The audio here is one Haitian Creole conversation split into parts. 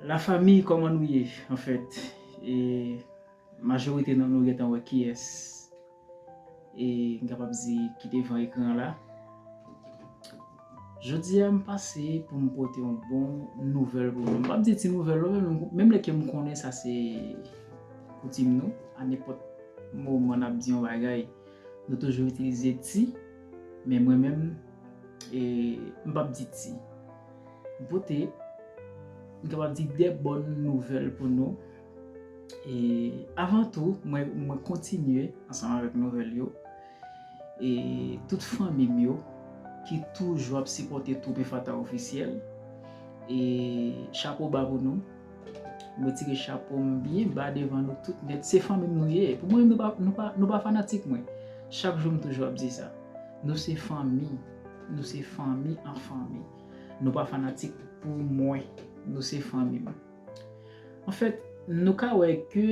La famille koman nou ye en fait e majorite nan nou gentan wè kiyès e m kapab di ki devan ekran la Jodi a m pase pou m pote yon bon nouvèl pou nou. M pap di ti nouvèl non men menm lè ke m konnen sa se koutim nou a nenpòt moman n ap di yon bagay nou toujou itilize ti men mwen menm e m pap di ti. M pote, m kapab di de bòn nouvèl pou nou. E avan tou, mwen kontinye ansanm avèk nouvèl yo. E tout fanmi m yo ki toujou ap sipòte Twoupe Fata Ofisyèl. E chapo ba pou nou. M retire chapo m byen ba devan nou tout nèt. Se fanmi m nou ye. Pou mwen, nou pa fanatik mwen. Chak jou m toujou ap di sa. Nou se fanmi. Nou se fanmi an fanmi. Nou pa fanatik pou mwen. Nou se fanmi m. An fèt, nou ka wè ke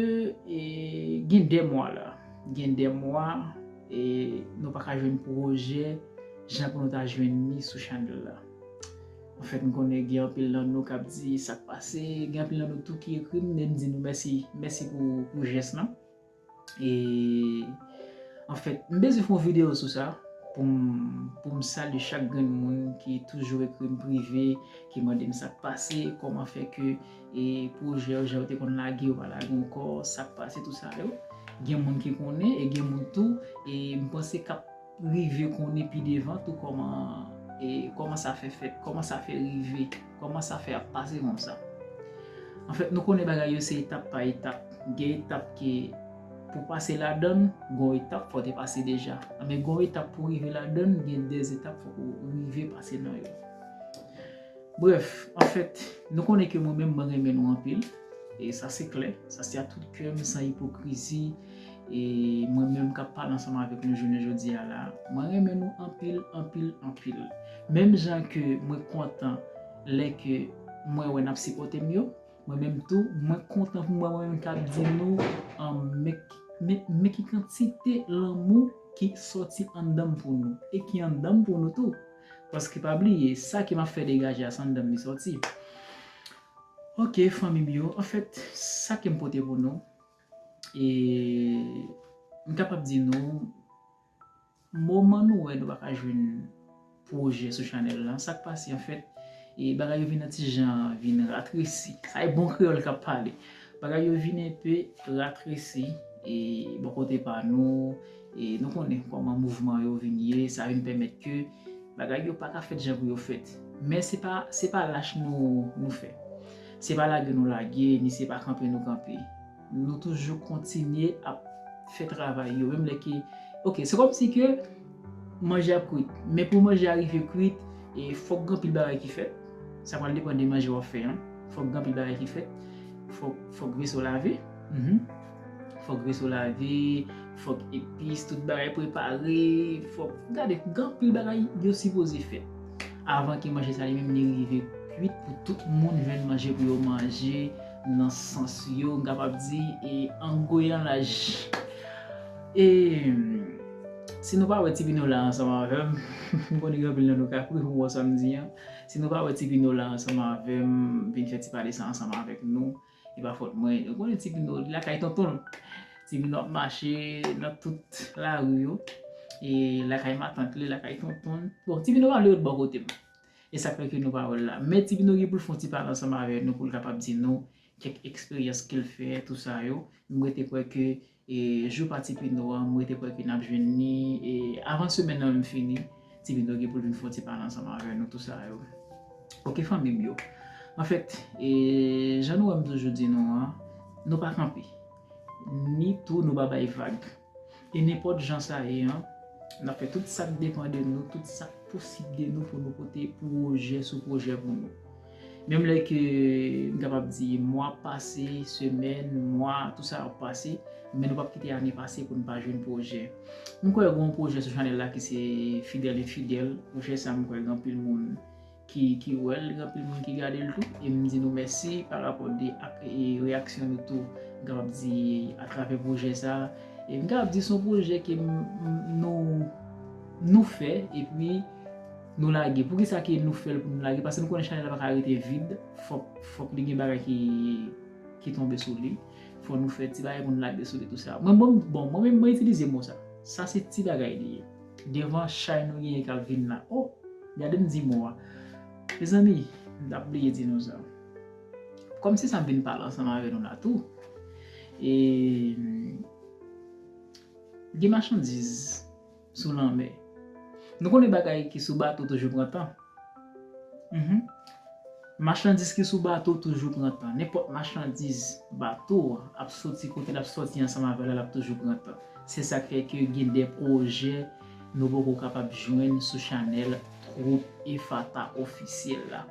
gen 2 mwa la. Gen 2 mwa e nou pa ka jwenn pwojè jan pou nou ta jwenn li sou chanèl la. An fèt, m konnen gen anpil nan nou k ap di sa k pase. Gen anpil nan nou tou ki ekri m e m di nou mèsi. Mèsi pou jès lan. E anfèt, m bezwen fè yon videyo sou sa pou m salye chak grenn moun ki toujou ekri m prive, ki mande m sa k pase, kòman fè ke pwojè yo, jan yo te konn lage yo pa lage ankò, sa k pase, tout sa yo. Gen moun ki konnen e gen moun tou m panse k ap. rive konnen pi devan tou kòman e kòman sa fè fèt, kòman sa fè rive, kòman sa fè ap pase konsa. Anfèt nou konnen bagay yo se etap pa etap, gen etap ke pou pase ladann gon etap fò te pase deja, anben gon etap pou rive ladann gen de etap fò ou rive pase nan yo. Brèf, anfèt nou konnen ke mwen menm mwen renmen nou anpil e sa se klè, sa se a tout kèm san ipokrizi, E mwen menm kap pale ansanm avèk nou jounen jodi a la, mwen renmen nou anpil, anpil, anpil. Menm jan ke mwen kontan lè ke mwen wè nap sipòte m yo, mwen menm tou mwen kontan pou m wè mwen menm kap di nou men ki kantite lanmou ki sòti anndan m pou nou e ki anndan m pou nou tou. Paske pa bliye, sa ke map fè degaje a se anndan m li sòti. Ok fanmi m yo, anfèt sa kem pote pou nou. E m kapab di nou, moman nou wè nou pa ka jwenn pwojè sou chanèl la, sa k pase anfèt, e bagay yo vin yon ti jan vin ratresi. Sa e bon kreyòl k ap pale. Bagay yo vin enpe ratresi e bò kote pa nou, e nou konnen kòman mouvman yo vin ye, sa vin pèmèt ke bagay yo pa ka fèt jan pou yo fèt. Men se pa lach nou fè. Se pa lage nou lage, ni se pa kanpe nou kanpe. Nou toujou kontinye ap fè travay yo, menm lè ke, ok, se kòm si ke manje ap kwit, men pou manje a rive kwit, e fòk gen anpil bagay ki fèt, sa pral depan de manje wap fè an, fòk gen anpil bagay ki fèt, fòk veso lave, Fòk reso lave, fòk epis, tout bagay prepare, fòk gade gan pil bagay yo sipoze fè. Avan ke manje sa li menm li rive kwit pou tout moun jwenn manje pou yo manje nan sans yo m kapab di e an goyan laj. E si nou pa wè ti pino la ansanm avèm, m konnen gen anpil nan nou ka kouri pou wè sa m di an, si nou pa wè ti pino la ansanm avèm vin fè ti pale sa ansanm avèk nou. E pa fòt mwen, ou konnen ti Minou li lakay tonton l. Ti Minou ap mache nan tout lari yo, e lakay matant li, lakay tonton l. Bon, ti Minou pa vle ret bò kote m. E sa k fè ke nou pa wè l la. Men ti Minou gen pou l fè yon ti pale ansanm avè nou pou l kapab di nou kèk eksperyans ke l fè, tou sa yo. M rete kwè ke E jou pa tipino an m rete kwè ke nap jwenn ni e avan semèn nan menm fini tipino gen poul vin fon ti pale ansanm avè nou tou sa yo ok fanmim yo anfèt e jan nou wèm toujou di nou an nou pa kanpe ni tou nou pa bay vag e nenpòt jan sa ye an nap fè tout sak depan de nou tout sak posib de nou pou nou pote pwojè sou pwojè pou nou. Menm lè ke m kapab di mwa ap pase, semèn, mwa, tout sa ap pase, men nou pap kite ane pase pou nou pa jwenn pwojè. M kwè gen yon pwojè sou chanèl la ki se Fidèl Enfidèl, pwojè sa m kwè gen anpil moun ki wè l, gen anpil moun ki gade l tou, e m di nou mèsi pa rapò de ak reyaksyon nou tou, m kapab di atravè pwojè sa. E m kapab di se yon pwojè ke nou fè, epi. Nou lage. Poukisa ke nou fèl pou nou lage? Pase nou konnen chanèl la paka rete vid. Fòk, fòk li gen bagay ki, ki tonbe sou li. Fò nou fè ti bagay pou nou lage sou li tou sa. Mwen bon, bon mwen menm mwen itilize mo sa. Sa se ti bagay li ye. Devan chay nou genyen kap vin la. O! Gadem di mo a. Mezanmi, m tap bliye di nou sa. Kòm se sa m vin pale ansanm avè nou la tou. E, gen machandiz. sou lanmè. Nou konnen bagay ki sou bato toujou pran tan. Machandiz ki sou bato toujou pran tan. Nenpòt machandiz bato ap soti kote l ap soti ansanm avè l la l ap toujou pran tan. Se sa k fè ke gen de pwojè nou poko kapab jwenn sou chanèl Twoup Efata Ofisyèl la.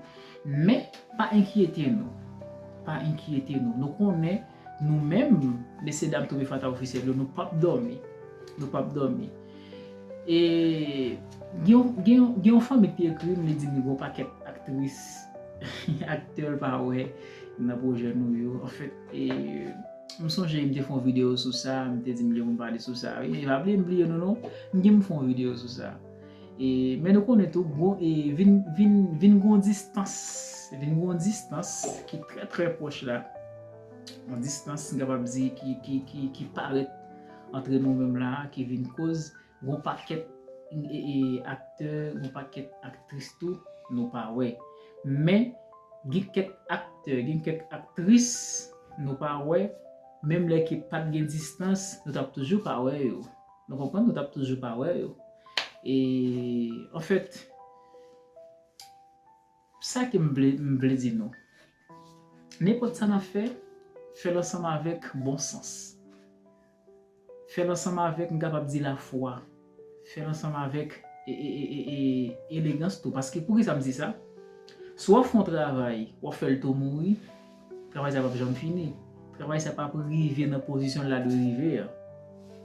Men, pa enkyete nou. Pa enkyete nou. Nou konnen. Nou menm mesye dam Tobe Fata Officiel yo nou pap dòmi. Nou pap dòmi. E gen yon fanmi ki ekri m li di m li gen yon pakèt aktris, aktè l pa wè nan pwojè nou yo. Anfèt, m sonje m te fè yon videyo sou sa, m te di m li pou m pale sou sa. E pa bliye m bliye nou non. M gen pou m fè yon videyo sou sa. E men nou konnen tou gwo e vin gwo distans, vin gwo distans ki trè trè pwòch la. yon distans m kapab di ki parèt antre nou menm la a ki vin koz gon pakèt aktè, gon pakèt aktris tou nou pa wè. Men, gen kèk aktè, gen kèk aktris nou pa wè, menm lè ki pa t gen distans, nou t ap toujou pa wè yo. Nou konprann? Nou t ap toujou pa wè yo. E, anfèt, Sa ke m vle m vle di nou. Nenpòt sa n ap fè, fè l ansanm avèk bon sans. Fè l ansanm avèk m kapab di lafwa. Fè l ansanm avèk elegans tou. Paske poukisa m di sa? Si w ap fè yon travay, w ap fè l tou mouri. Travay sa pap janm fini. Travay sa pap rive nan pozisyon la dwe rive an.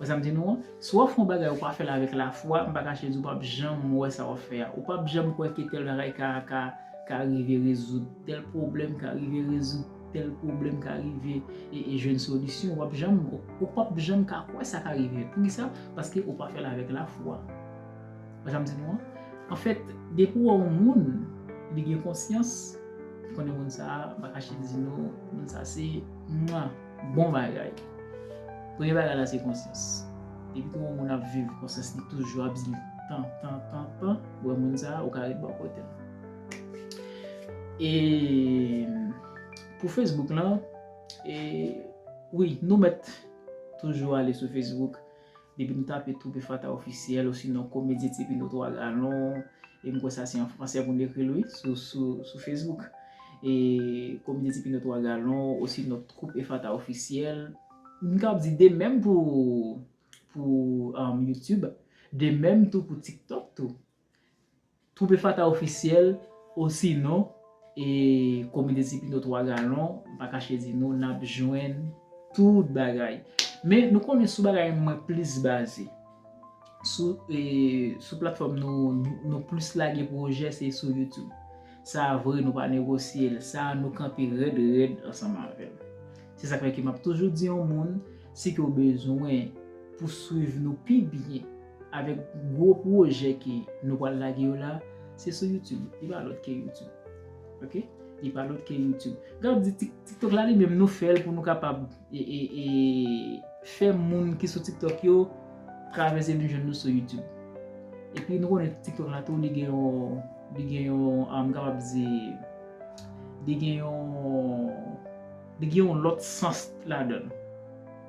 Wè sa m di nou an? Si w ap fè yon bagay ou pa fè l avèk lafwa, m pa kache di w pap janm wè sa w ap fè a. Ou pap janm kwè ke tèl bagay ka ka ka rive rezoud tèl pwoblèm, ka rive rezoud tèl pwoblèm, ka rive e jwenn solisyon. W ap janm ou pap janm ka kwè sa ka rive. Poukisa? Paske ou pa fè l avèk lafwa. Bon jan m di nou an. Anfèt, depi w wè yon moun, li gen konsyans, li konnen moun sa a, m pa kache di nou, moun sa a se mwa! Bon bagay! Premye bagay la se konsyans. Depi ke yon moun ap viv, konsyans li toujou ap di li tan, tan, tan, tan, ou wè moun sa a, ou ka ret bò kote l. E pou Facebook lan, e wi, nou mèt toujou ale sou Facebook. Depi nou tape Troupe Fata Officiel osinon Komedyen Tipino 3 Galon, e m kwè sa se an fransè pou n ekri l wi, sou Facebook. E Komedyen Tipino 3 Galon osinon Troupe Efata Officiel. M kab di de menm pou Youtube, de menm tou pou TikTok tou. Twoupe Fata Ofisyèl osinon e Komite Ti Pino 3 Galon, m pa kache di nou, n ap jwenn tout bagay. Men, nou konnen sou bagay mwen plis baze. Sou e, sou platfòm nou, nou plis lage pwojè se sou YouTube. Sa a vre, nou pa negosye l. Sa a nou kanpe rèd rèd ansanm avè l. Se sa k fè ke m ap toujou di yon moun, si ke w bezwen pou swiv nou pi byen, Avèk gwo pwojè ke nou pwal lage yo la, se sou YouTube, li pa lòt ke YouTube. Ok, li pa lòt ke YouTube. Gen wap di TikTok la li menm nou fèl pou nou kapab fè moun ki sou TikTok yo travèse vin jwenn nou sou YouTube. Epi nou konnen TikTok la tou li gen yon, li gen yon, m kapab di, li gen yon. Li gen yon lòt sans ladan l.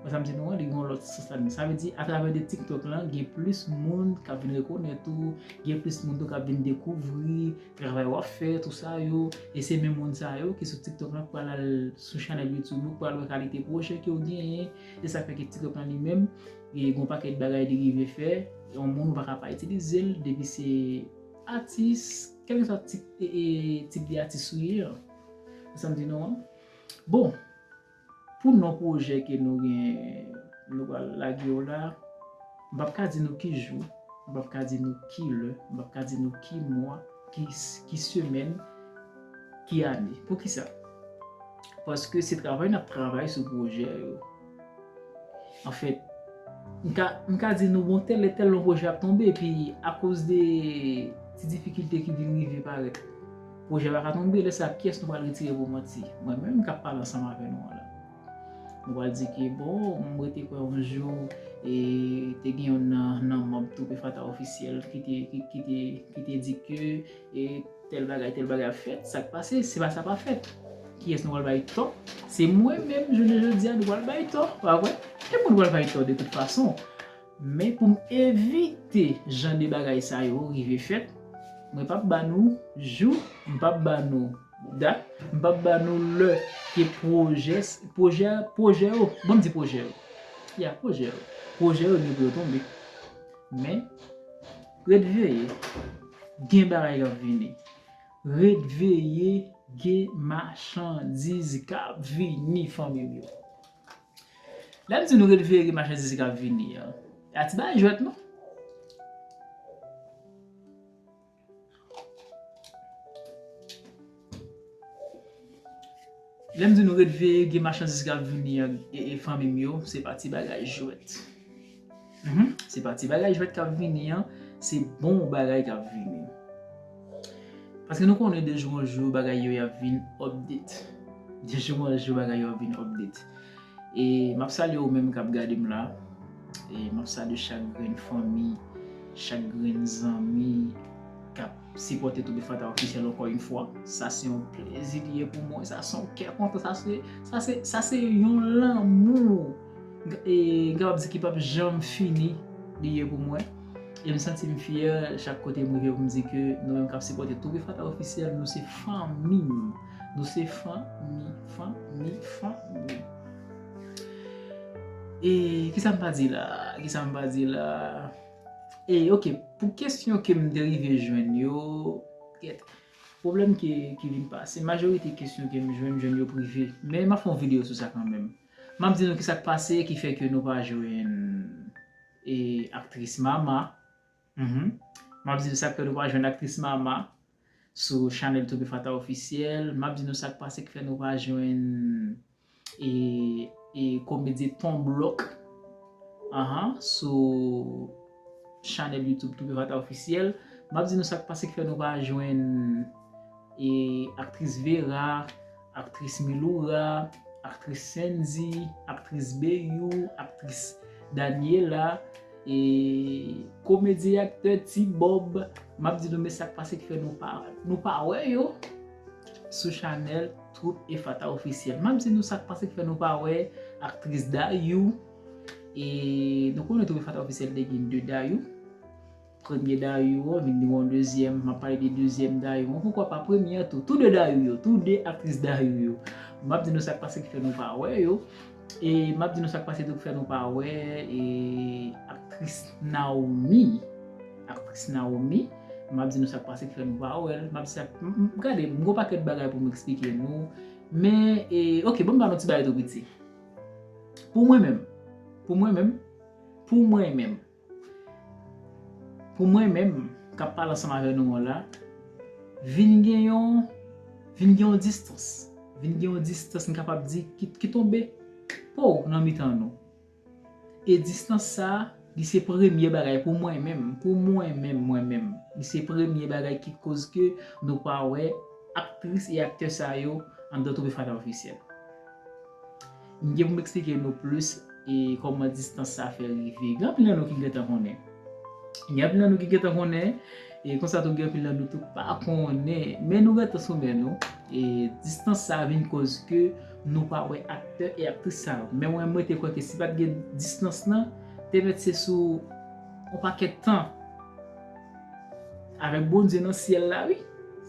Wè sa m di nou an, li gen yon lòt sans ladan l. Sa vle di atravè de TikTok lan, gen plis moun k ap vin rekonèt ou, gen plis moun tou k ap vin dekouvri travay w ap fè, tou sa yo. E se menm moun sa yo ki sou TikTok lan k pral al sou chanèl Youtube ou, k pral wè kalite pwojè ke w genyen. Se sa k fè ke TikTok lan li menm, gen yon pakèt bagay li rive fè. Yon moun ou pa ka pa itilize l depi se atis, kèlkeswa tip de atis ou ye an. Sa m di nou an. Bon, pou non pwojè ke nou gen, nou pral lage yo la, m pap ka di nou ki jou, m pap ka di nou ki lè, m pap ka di nou ki mwa, ki semèn, ki ane. Poukisa? Paske se travay n ap travay sou pwojè yo. Anfèt, m ka di nou bon tèl lè tèl yon pwojè ap tonbe epi akoz de ti difikilte ki vin rive parèt, pwojè a pa ka tonbe, lè sa kiyès nou pral retire pou manti? Mwen menm k ap pale ansanm avè nou an la. Nou pral di ke bon, m rete kwè yon jou e te gen yonn nan manm Twoupe Fata Ofisyèl ki te di ke E tèl bagay tèl bagay ap fèt sak pase se pa sa pa fèt kiyès nou pral bay tò se mwen menm jounen jodia nou pral bay tò pa vre tout moun pral bay tò de tout fason men poum evite jan de bagay sa yo rive fèt mwen pap ba nou jou m pap ba nou dat m pap ba nou lè ke pwojè pwojè pwojè yo bon m di pwojè yo ya pwojè yo pwojè yo gen pou yo tonbe men. Ret veye, gen bagay kap vini. Ret veye gen machandiz kap vini fanmim yo. Lèm di nou ret veye gen machandiz kap vini an, a ti bagay jwèt non. Lèm di nou ret veye gen machandiz kap vini an ee fanmim yo se pa ti bagay jwèt humm se pa ti bagay jwèt kap vini an se bon bagay kap vini paske nou konnen de jou an jou bagay yo ap vin update de jou an jou bagay yo ap vin update ee map salye ou menm kap gadem la ee map salye chak grenn fanmi chak grenn zanmi kap Sipote Toby Fanta Officiel anko yn fwa, sa se yon plezi li ye pou mwen, sa se yon kè kontan, sa se, sa se, sa se yon lanmou e m kapab di ki pap janm fini li ye pou mwen. E m santi m fyè chak kote m rive pou m di ke nou menm kap sipote Toby Fanta Officiel nou se fanmi m, nou se fanmi, fanmi, fanmi. E kisa m pa di la, kisa m pa di la. E ok pou kesyon ke m te rive jwenn yo, gyèt, pwoblèm ki vin pase, majorite kesyon ke m jwenn, m jwenn yo prive. Men m ap fè yon videyo sou sa kanmenm. M ap di nou kisa k pase ki fè ke nou pa jwenn aktris Mama, m ap di nou sa k fè nou pa jwenn aktris Mama. sou chanèl Toby Fata officiel map di nou sak pase ki fè nou pa jwenn e komedye ton blok ahan sou chanèl YouTube Toby Fata officiel map di nou sak pase ki fè nou pa jwenn e aktris Vera Aktris Miloura, aktris Sendy, aktris Beyou, aktris Daniela, e komedyen aktè Ti Bob, m ap di nou men sa k pase ki fè nou pa wè. Nou pa wè yo sou chanèl Twoup Efata Ofisyèl. M ap di nou sa k pase ki fè nou pa wè aktris Dayou, e nou konnen Twoup Efata Ofisyèl te gen 2 Dayou. Premye Dayou an vin yon dezyèm, m ap pale de dezyèm Dayou an, poukwa pa premye an tou. Tou de Dayou yo, tou de aktris Dayou yo. M ap di nou sa k pase ki fè nou pa wè yo. E m ap di nou sa k pase tou ki fè nou pa wè aktris Nawomi. Aktris Nawomi, m ap di nou sa k pase ki fè nou pa wè l. M ap di sa k, gade, m gen yon pakèt bagay pou m eksplike nou. Men, ok, ban m ba nou ti bagay tou piti. Pou mwen menm, pou mwen menm, pou mwen menm. Pou mwen menm k ap pale ansanm avè nou an la, vin gen yon, vin gen yon distans, vin gen yon distans m kapab di ki tonbe pow nan mitan nou. E distans sa, li se premye bagay pou mwen menm, pou mwen menm, mwen menm, li se premye bagay ki koz ke nou pa wè aktris e aktè sa yo anndan Trophée Fada Officiel. M gen pou m eksplike nou plis e kòman distans sa fè rive. Gen anpil nan nou ki gentan konnen. Gen anpil nan nou ki gentan konnen. E konsa tou gen anpil nan nou tou pa konnen. Men nou rete sou men nou. E distans sa vin koz ke nou pa wè aktè e aktris sa yo. Men mwen m rete kwè ke si pat gen distans lan, te mèt se sou yon pakèt tan. Avèk Bondye nan syèl la wi.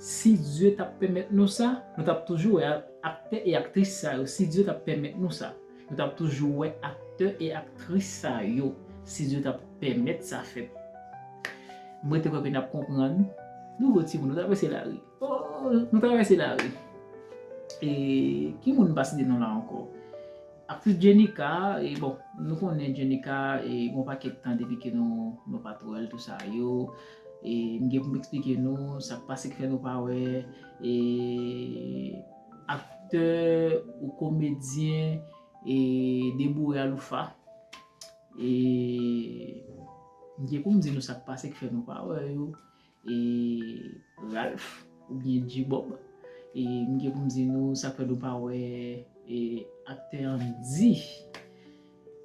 Si Dye tap pèmèt nou sa, nou tap toujou wè. Aktè e aktris sa yo si Dye tap pèmèt nou sa nou tap toujou wè aktè e aktris sa yo si Dye tap pèmèt sa fèt m rete kwè ke nap konprann nouvo timoun nou travèse lari ooh nou travèse lari e ki moun m pa site non la ankò aktris Djenika e bon nou konnen Djenika e gon pakèt tan depi ke nou nou pat wèl tou sa yo. E m gen pou m eksplike nou sa k pase ki fè nou pa wè e aktè ou komedyen e deboure aloufa. E m gen pou m di nou sa k pase ki fè nou pa wè yo e Ralph oubyen G-Bob. E m gen pou m di nou sa k fè nou pa wè e aktè Andy.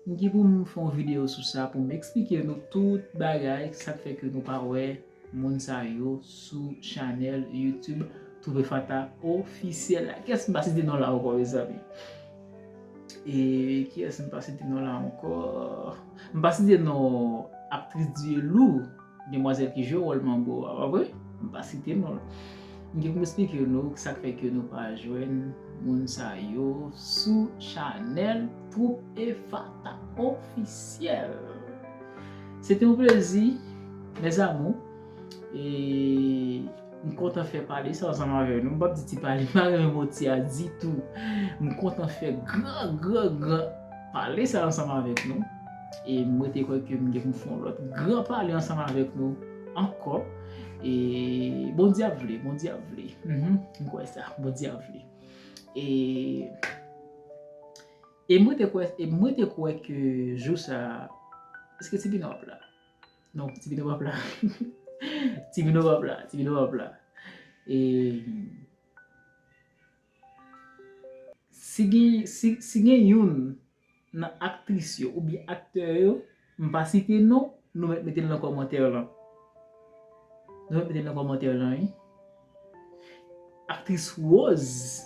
M gen pou m fè yon video sou sa pou m eksplike nou tout bagay sa k fè ke nou pa wè moun sa yo sou chanèl youtube Trouver Fanta officiel la. Kiyès m pa site non l la ankò mezanmi? E kiyès m pa site non l la ankò? M pa site non aktris Dielou. Demwazèl ki jwe wòl manbo a pa vre? M pa site non l. M gen pou m esplike nou sak fè ke nou pa jwenn moun sa yo sou chanèl Twoup Efata Ofisyèl. Se te yon plezi mes amours e. M kontan fè pale sa ansanm avè nou. M pap di ti pale, m pa renmen mo ti a ditou. M kontan fè gran, gran, gran pale sa ansanm avèk nou. E m rete kwè ke m gen pou m fè yon lòt gran pale ansanm avèk nou ankò. E Bondye ap vle, Bondye ap vle. M kwè sa, Bondye ap vle. E e m rete kwè, e m rete kwè ke jou sa a, eske ti Bino ap la? Non, ti vino pap la. Ti vino pap la. Ti vino pap la. E... Si gen, si gen youn nan aktris yo ou byen aktè yo, m pa site non, nou mèt mete l nan kòmantè lan. Nou mèt mete l nan kòmantè lan wi. Aktris Rose.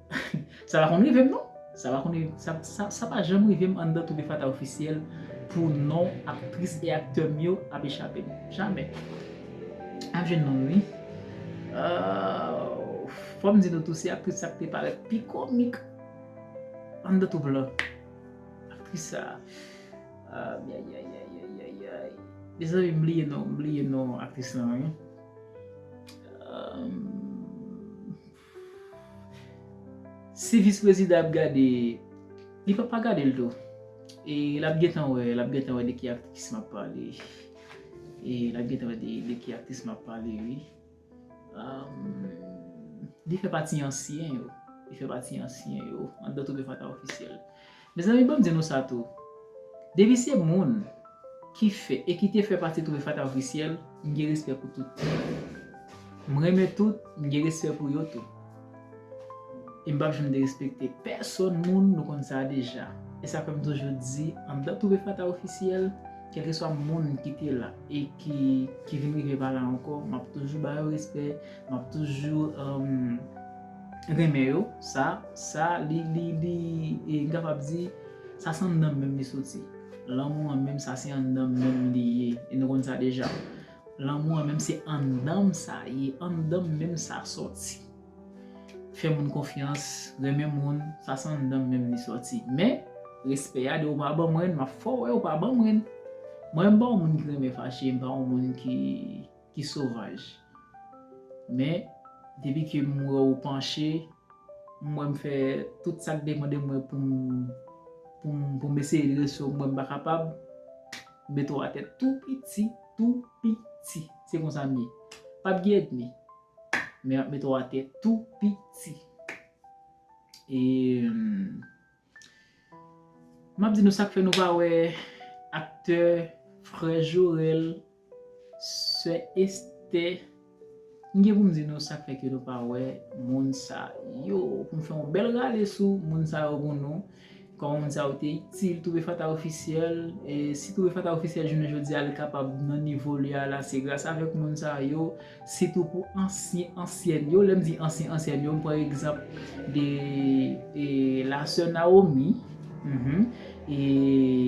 Sa pa konn rive m non Sa pa konn rive m Sa pa janm rive m anndan Toube Fata Officiel pou non aktris e aktè m yo ap echape m Jamè M ap jwenn non m wi Fò m di nou tou se aktris sa k te parèt pi komik anndan Toube lan Aktris sa Ayayayayayayay Mezanmi m bliye non m bliye non aktris lan wi Aayy Si vis prezidan ap gade li papa gade l tou e lap gentan wè lap gentan wè de ki aktris map pale e lap gentan wè de ki aktris map pale wi li fè pati ansyen yo li fè pati ansyen yo andan twoupe fatra ofisyèl. Mezanmi banm di nou sa tou, depi se moun ki fè e ki te fè pati Toure Fata Officiel, m gen respè pou tout. M renmen tout, m gen respè pou yo tou. E m pap janm derespekte pèsòn moun, nou konn sa deja. E sa fè m toujou di, anndan Toure Fata Officiel, kèlkeswa moun ki te la e ki vin rive pa la ankò, m ap toujou ba yo respè, m ap toujou. renmen yo sa sa li li li e m kapab di sa se anndan m menm li soti lanmou an menm sa se anndan m menm li ye e nou konn sa deja lanmou an menm se anndan m sa ye anndan m menm sa soti fè moun konfyans renmen moun sa se anndan m menm li soti men respè a depi w pa ban m ren m ap fè w wè ou pa ban m ren mwen m pa yon moun ki renmen fache m pa yon moun ki ki sovanj. Men, depi ke m wè ou panche, m wè m fè tout sa k depan de mwen pou m, pou m, pou m eseye drese w, m wè m pa kapab, m mete w atè tou piti, tou piti. Se konsa m ye. Pa p gen èdmi. Men, m ap mete w atè tou piti. E. Map di nou sak fè nou pa wè aktè frè jorèl sè estè m gen pou m di nou sak fè ke nou pa wè moun sa yo pou m fè yon bèl rale sou moun sa yo pou nou kòman moun sa yo te itil trouve fata ofisyèl si trouve fata ofisyèl jounen jodi a li kapab nan nivo li a la se gras avèk moun sa yo. Sitou pou ansyen ansyèn yo, lèm di ansyen ansyèn yo m pran egzanp de la sè Naomi, e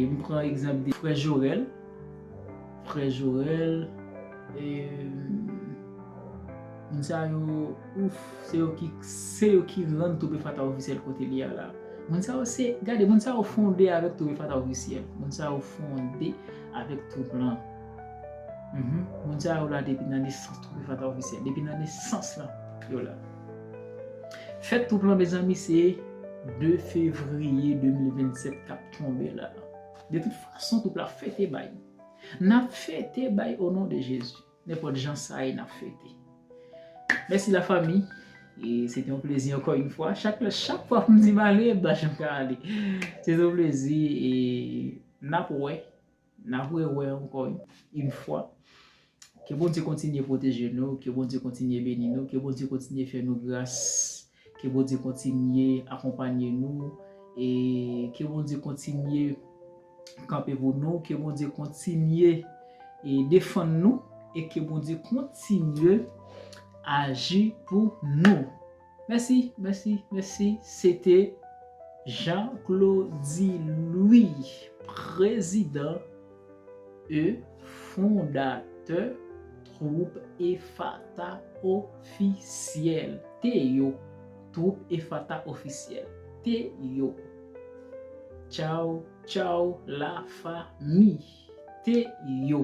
m pran egzanp de frè Jorèl, frè Jorèl, moun sa yo ouff se yo ki se yo ki rann Tobe Fata Ofisyèl kote li a la. Moun sa yo se, gade moun sa yo fonde avèk Tobe Fata Ofisyèl, moun sa yo fonde avèk twoup lan. Moun sa yo la depi nan nesans Twoupe Fanta Ofisyèl depi nan nesans lan yo la Fèt Twoup lan mezanmi se 2 fevriye 2027 kap tonbe la De tout fason Twoup la fete bay Nap fete bay o non de Jezi Nenpòt jan sa ye nap fete Mèsi la fanmi Se te yon plezi ankò yon fwa Chak fwa poum di m ale m pa janm ka ale Se te yon plezi e nap wè Nap re wè ankò yn fwa. Ke Bondye kontinye pwoteje nou, ke Bondye kontinye beni nou, ke Bondye kontinye fè nou gras, ke Bondye kontinye akonpanye nou, e ke Bondye kontinye kanpe pou nou, ke Bondye kontinye e defann nou, e ke Bondye kontinye aji pou nou. Mèsi mèsi mèsi se te Jean Claudy Louis prezidan e fondatè twoup Efata ofisyèl te yo twoup Efata ofisyèl te yo tchaw tchaw la fa mi te yo.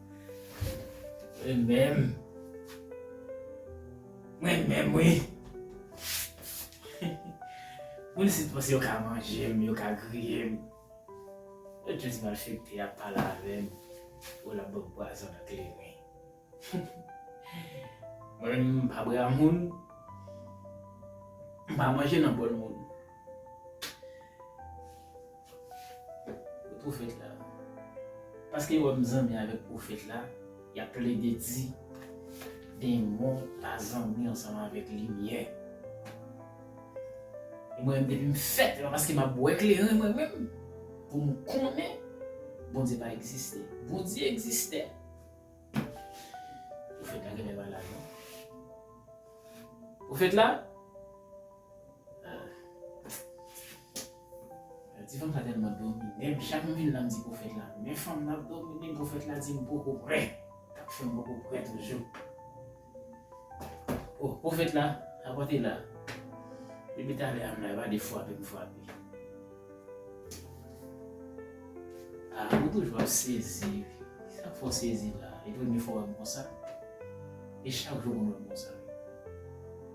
Mwen menm. Mwen menm wi. Moun isit panse yo ka manje m, yo ka griye m. Yo jis malfekte ap pale avè m pou la banm pwazon nan kleren. Mwen menm m pa bra moun. M pa manje nan bòl moun. Profèt la. Paske yo wè m zanmi avèk profèt la, y ap plede di, Denmon pa zanmi ansanm avèk limyè. E mwen menm depi m fèt la, paske m ap bwè kleren mwen menm, pou m konnen Bondye pa egziste. Bondye egziste! Profèt la genlè pa la non. Profèt la. Ti fanm sa tèlman domine'm, chak m vin la m di pwofèt la, men fanm nan ap domine'm, pwofèt la di m poko prè, kap fèm poko prè toujou. Oh, pwofèt la, la pòt e la. Depi talè a m la, e pa de fwape m fwape. Ah, ou toujou ap sezi, sak fè w sezi la? E premye fwa w wè m konsa? E chak jou konn wè m konsa?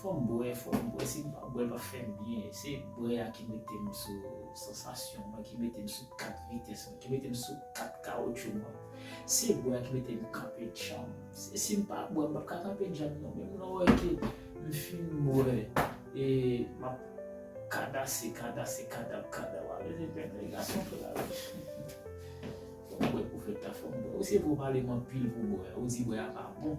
Fòm bwè, fòm bwè, si m pa bwè l pap fè m byen, se bwè a ki mete m sou sansasyon mwen, ki mete m sou kat vitès mwen, ki mete m sou kat kawotchou mwen, se bwè a ki mete m kanpe djanm, si m pa bwè m pap ka kanpe djanm non, menm lè w wè ke m fin bwè e m ap kadase, kadase, kadap, kadap, a vle di m fè gason fè lavi, fòm bwè pou fèt la, fòm bwè, ou se pou w pale m anpil pou bwè, ou di bwè a pa bon,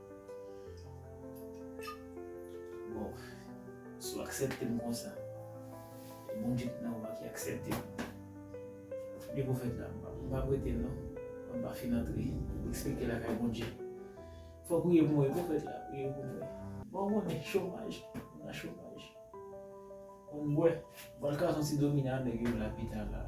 Bon, si w aksepte m konsa, e Bondye ki nan ou a ki aksepte m, li pou fèt la. M pa prete non, tank m pa fin antre, eksplike lakay Bondye. Fò w priye pou mwen wi pwofèt la, priye pou mwen. Bon ou konnen, chomaj, m nan chomaj. Bon m bwè, m pral kraze yon ti domino a nèg yo lapital la.